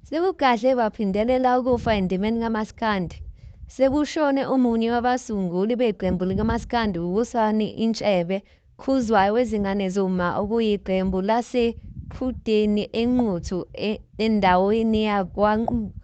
Sekugadle kwaphindelela ukufa endimeni kamaskandi. Sekushone omunye wabasunguli beqembu likamaskandi uWusani Intshebe Khuzwayo wezingane zomma okuyiqembu lase Qhudeni eNquthu endaweni yakwaNquthu.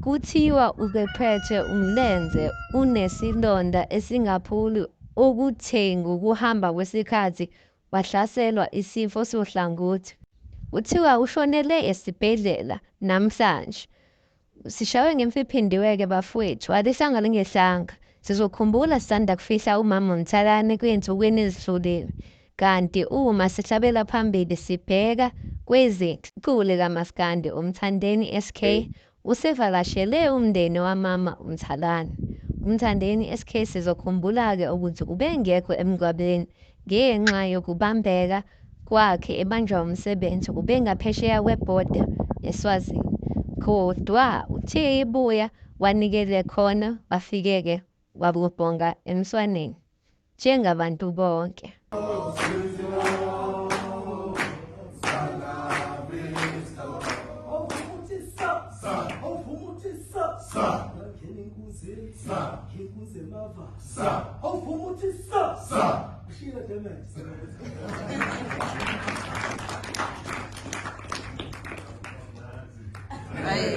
Kuthiwa uqeqetshe umlenze unesilonda esingapholi okuthe ngokuhamba kwesikhathi wahlaselwa isifo sohlangothi. Kuthiwa ushonele esibhedlela namhlanje. Sishawe ngemfiphindiwe-ke bafwethu, alihlanga lingehlanga. Sizokhumbula sisanda kufihla umama uMthalane kuyinsukwini ezidlulile, kanti uma sihlabela phambili sibheka kwezethu. Umculi kaMaskandi uMthandeni SK Usevakashele umndeni wamama uMthalane, uMthandeni SK sizokhumbula-ke ukuthi ubengekho emngcwabeni ngenxa yokubambeka kwakhe ebanjwa umsebenzi ubengaphesheya kwebhoda eSwazini kodwa uthe ebuya wanikele khona wafike-ke wabonga emswaneni njengabantu bonke. Hey,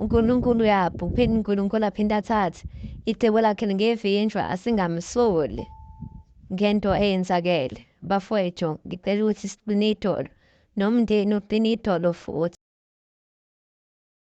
UNkulunkulu uyabha, uphinde uNkulunkulu aphinde athathe. Icebo lakhe lingevinjwa, asingamsoli ngento eyenzakele. Bafwethu, ngicela ukuthi siqine idolo, nomndeni uqine idolo futhi.